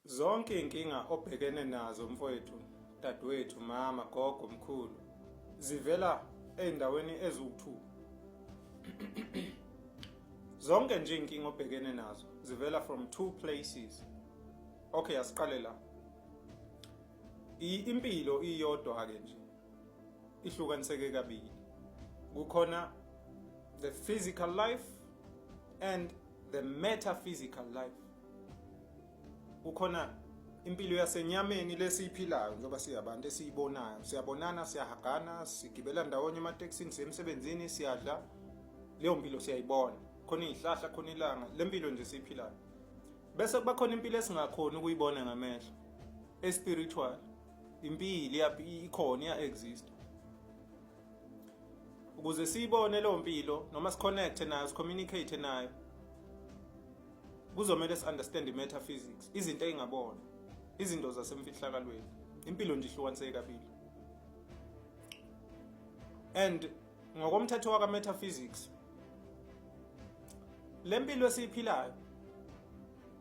Zonke iy'nkinga obhekene nazo mfowethu, dadewethu, mama, gogo, mkhulu zivela ey'ndaweni eziwu-two. Zonke nje iy'nkinga obhekene nazo zivela from two places. Okay, asiqale la. Impilo iyodwa-ke nje ihlukaniseke kabili. Kukhona the physical life and the metaphysical life. kukhona impilo yasenyameni lesiyiphilayo njengoba siyabantu esiyibonayo siyabonana siyahagana sigibela ndawonye ematekisini sisemsebenzini siyadla leyo mpilo siyayibona khona izihlahla khona ilanga le mpilo nje siyiphilayo bese kuba khona impilo esingakhona ukuyibona ngamehlo espiritual impilo ikhona iya exist ukuze siyibone leyo mpilo noma siconnecte nayo sicommunicate nayo Kuzomele si understand metaphysics, izinto engabona, izinto zasemfihlakalweni. Impilo nje ihlukaniseke kabili. And ngokomthetho waka metaphysics lempilo esiyiphilayo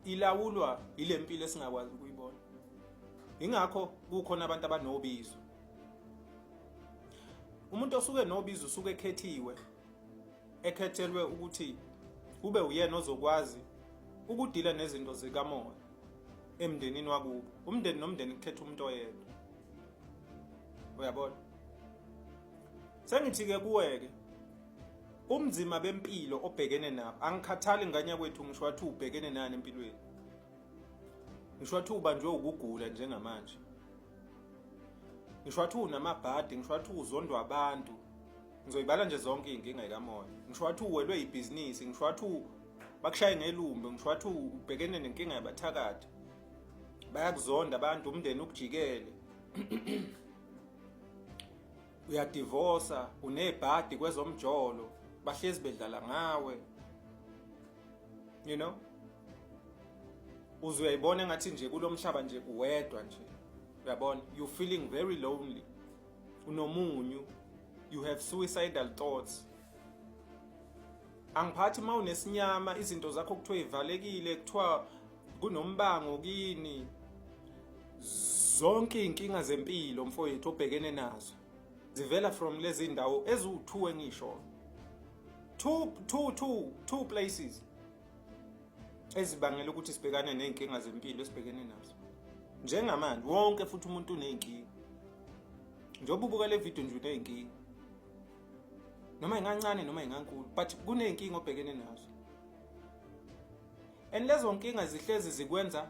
ilawulwa ilempilo esingakwazi ukuyibona. Ingakho kukhona abantu abanobizo. Umuntu osuke nobizo usuke ekhethiwe ekhethelwe ukuthi kube uyena ozokwazi ukudila nezinto zikamoya emndenini wakubo umndeni nomndeni kukhetha umuntu oyedwa uyabona sengithi-ke kuwe-ke umzima bempilo obhekene nabo angikhathali nganya kwethu ngisho wathi ubhekene nani empilweni ngisho wathi ubanjwe ukugula njengamanje ngisho wathi unamabhadi ngisho wathi uzondwa abantu ngizoyibala nje zonke iy'nkinga yikamoya ngisho wathi uwelwe yibhizinisi ngisho wathi bakushaye ngelumbe ngisho wathi ubhekene nenkinga yabathakathi bayakuzonda abantu umndeni ukujikele uyadivosa unebhadi kwezomjolo bahlezi bedlala ngawe you know uze uyayibona ngathi nje kulomhlaba nje uwedwa nje uyabona you feeling very lonely unomunyu you have suicidal thoughts angiphathi uma unesinyama izinto zakho kuthiwa ivalekile kuthiwa kunombango kini zonke iy'nkinga zempilo mfowethu obhekene nazo zivela from lezi ndawo eziwu-two engisho two, two, two, two places ezibangela ukuthi sibhekane nezinkinga zempilo esibhekene nazo njengamanje wonke futhi umuntu unezinkinga njengoba ubuka le video nje unezinkinga noma ingancane noma ingankulu but kunezinkinga obhekene nazo and lezo nkinga zihlezi zikwenza